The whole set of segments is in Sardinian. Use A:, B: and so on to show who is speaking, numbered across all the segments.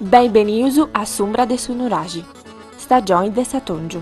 A: Beni benius a s'umbra de su nuraxi, stagioni de s'atòngiu.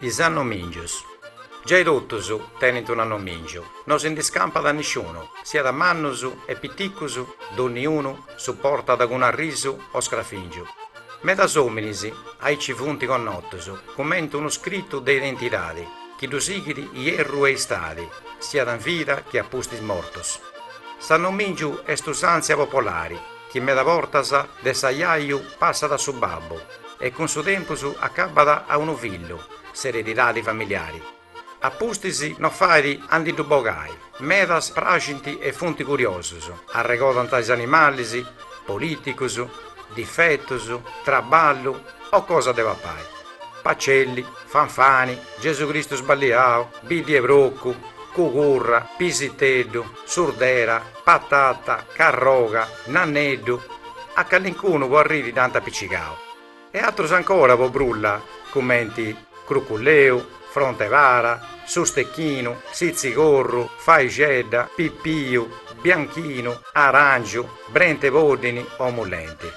B: Is annomìngius. Giai totus tenint un'annomìngiu, no si ndis campat nisciunu, siat mannus e piticus, donniunu su portat cun arrisu o scrafìngiu. Medas òminis aici funt connotus cumenti unu scritu de identidadi chi ddus sighit ierru e istadi, siat in vida che a pustis mortus. S'annomìngiu est usàntzia popolari. chi meda bortas de s'ajaju passat a su babbu e cun su tempus acabat a unu fillu s'eredidadi familiari, a pustis no fait a ndi ddu bogai, medas praxint e funt curiosus, arregodant is animalis, polìticus, difetus, traballu o cosa de papai, Pacelli, Fanfani, Gesu Cristu sballiau, Biddi 'e procu, Cugurra, Pisiteddu, Surdera, Patata, Carroga, Nanneddu, a callincunu po arriri dd'ant apicigau, e atrus ancora po brulla cumenti, Cruculleu, Fronte para, Su stechinu, Sitzigorru, Faixedda, Pipiu, Bianchinu, Arangiu, Brent'e poddini o Mullenti.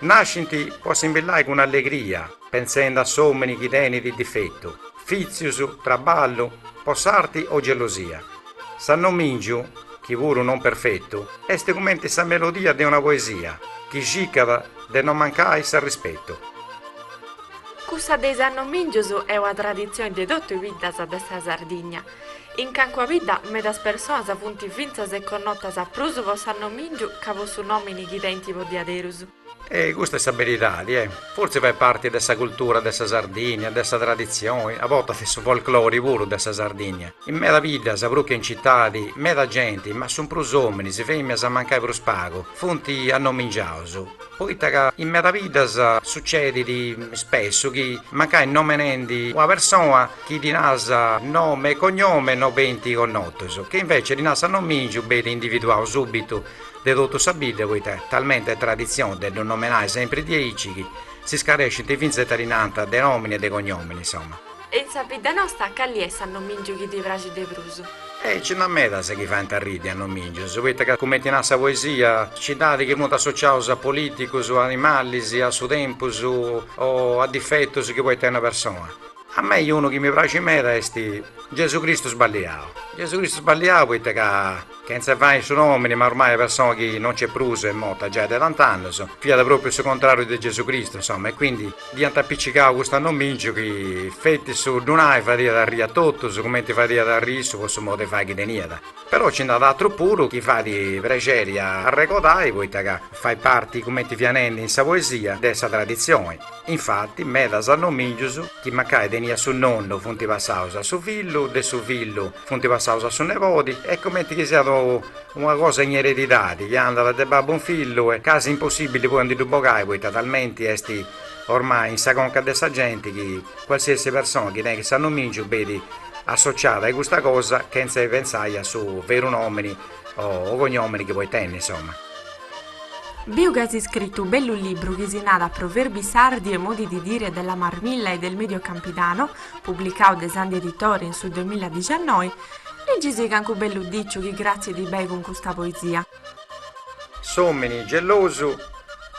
B: Nascint po assimbillai cun allegria. Pensendi a s'òmini chi tenit difetu, fìtzius, traballu, po s'arti o gelosia, s'annomìngiu, chi puru non perfetu, est cumenti sa melodia de una poesia chi circat de non mancai
C: s'arrispetu. Cussa de is annomìngius est una traditzioni de totu is biddas de sa Sardigna. In cancua bidda medas personas funt fintzas connotas prus po s'annomìngiu ca po su nòmini chi tenint po diaderus. E custa est
B: sa beridadi, e. Fortzis fait parti de sa cultura de sa Sardìnnia, de sa traditzioni, a bortas de su folklori puru de sa Sardìnnia. In meda biddas, prus che in citadi, meda genti, ma su prus ominis, feminas mancai prus pagu, funt annomingiaus, poita ca in meda biddas sucedit spessu chi, mancai nomenendi una persona chi ddi naras nomi e cognomi, no benint connotus, chi invece ddi naras s'annomingiu benit individuau subitu de totu sa bidda, poita, talmente est traditzione de ddu nomenai sempri diaici chi s'iscarescint fintzas ita ddi narant de nomini e de cognomini, insoma. E in sa bidda
C: nosta cali est s'annomìngiu chi ti praxit de prus? E nci nd'at
B: medas chi faint arriri annomìngius, poita ca cumenti narat sa poesia, nci nd'at chi funt associaus a polìticus, a animalis, a su tempus o a difetus chi podit tenni una persona. A mei unu chi mi praxit meda est Gesù Cristu sballiau, Gesù Cristu sballiau poita ca chentza fai su nomini ma ormai persona chi non nc'est prus est morta giai de tant'annus, fiat propriu su contrariu de Gesù Cristu insoma e quindi dd'iant apicicau custu annomingiu chi feti su ddu nai fadiat arrii a totus cumenti fadiat arrii issu po su modu de fai chi teniat. Però nci nd'at atru puru chi fait prexeri a arregodai poita ca fait parti cumenti fia nendi in sa poesia de sa traditzioni. Infati, medas annomìngius chi mancai teniat su nonnu funt passaus a su fillu, de su fillu funt passaus a su nebodi, est cumenti chi siat una cosa in eredidadi chi andat de babbu in fillu est casi impossìbili poi a ndi ddu bogai poita talmenti est ormai in sa conca de sa genti chi cualsiasi persona chi tenit s'annomìngiu benit associada a custa cosa chentza 'e pentzai a su veru nòmini o cognòmini chi podit tenni, insoma.
C: Biu ca as iscritu u bellu libru chi si narat Proverbi sardi e modi di dire della Marmilla e del Medio Campidano, publicau de Sandi Editori in su duemiladixannoi, Liggisi cancu bellu diciu chi gratzie a tui benit cun custa
B: poesia. S'omini gelosu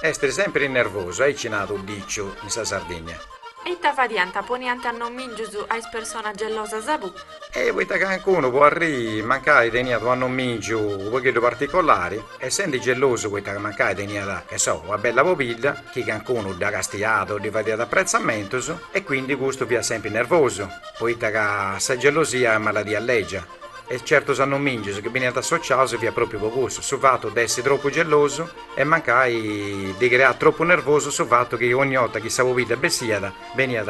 B: est sempiri nervosu, aici narat u diciu in sa Sardinnia. E ita fadianta,
C: poniant annomìngius a is personas gelosas, puru. E poita
B: ca cancunu po arriri mancai teniat unu annomìngiu unu pagheddu particolari, essendi gelosu poita mancai teniat, che so, una bella pobidda, chi cancunu dda castiat o ddi fadiat apretzamentus, e quindi custu fiat sempri nervosu, poita ca sa gelosia est maladia lègia, e certus annomìngius chi beniant associaus fiat pròpriu po cussu, su fatu de essi tropu gelosu e mancai ddi creat tropu nervosu su fatu chi ogni 'orta chi sa pobidda bessiat Beniat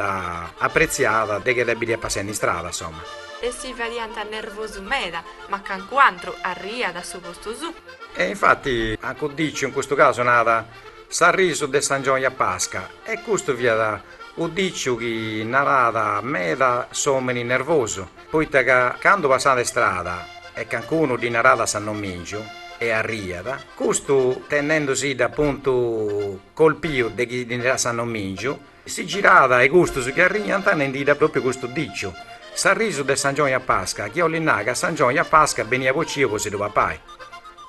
B: apretziada de chi dda bidiat passendi in strada, insoma. E ddi
C: fadiant nervosu meda, ma cancun'antru arriiat a su postu suu. E infati
B: u diciu in custu casu naat s'arrisu de s'angioni a Pasca, e custu fiat u diciu chi naraat meda s'omini nervosu. Poita ca candu passat de strada e cancunu ddi naràt s'annomìngiu e arriat, custu intendendusidda apuntu colpiu de chi ddi naràt s'annomìngiu, si girat a-i custus chi arriant nendiddi pròpriu custu dìciu, s'arrisu de s'angioni a Pasca, chi 'olit nai ca s'angioni a Pasca beniat bociu po si ddu papai.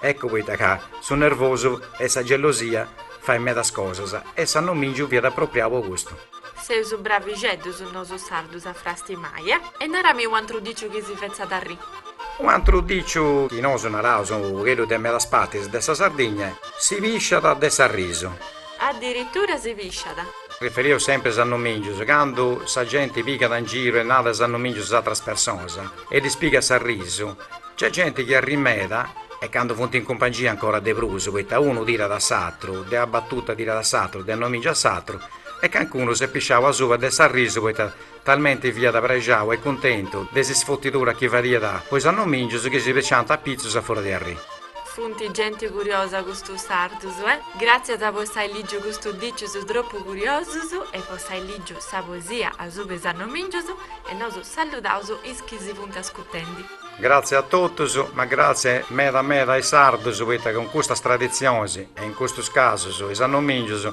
B: Eccu poita ca su nervosu e sa gelosia fait medas cosas e s'annomìngiu fiat apropriau po custu.
C: Seus bravixeddus nosu sardus a frastimai e. Naramì u antru diciu chi si fetzat arrì. U
B: antru diciu chi nosu naraus u pagheddu de medas partis de sa Sardigna est: Si pisciat de s'arrisu. Addirittura
C: si pisciat. Riferiu
B: sempri a is annumingius, candu sa genti pigat in giru e narat is annumingius a is atras personas e ddis pigat s'arrisu, nc'est genti chi arrit meda e candu funt in cumpangia ancora de prus, poita unu tirat a s'atru, de una batuta tirat a s'atru, de annomìngiu a s'atru. e calincunu s'est pisciau asuba de s'arrisu poita talmenti fiat prexau e cuntentu de s'isfutidura chi fadiat po is annomìngius chi si pisciànt a pitzus a furia de arriri. Funt genti
C: curiosa custus sardus, eh! Gràtzias po s'ai lìgiu custus dicius tropu curiosus e po s'ai lìgiu sa poesia asuba is annomìngius e nosu saludaus is chi si funt ascutendi. Gràtzias a
B: totus, ma gràtzias meda meda a is sardus poita cun custas traditzionis e in custus casus is annomìngius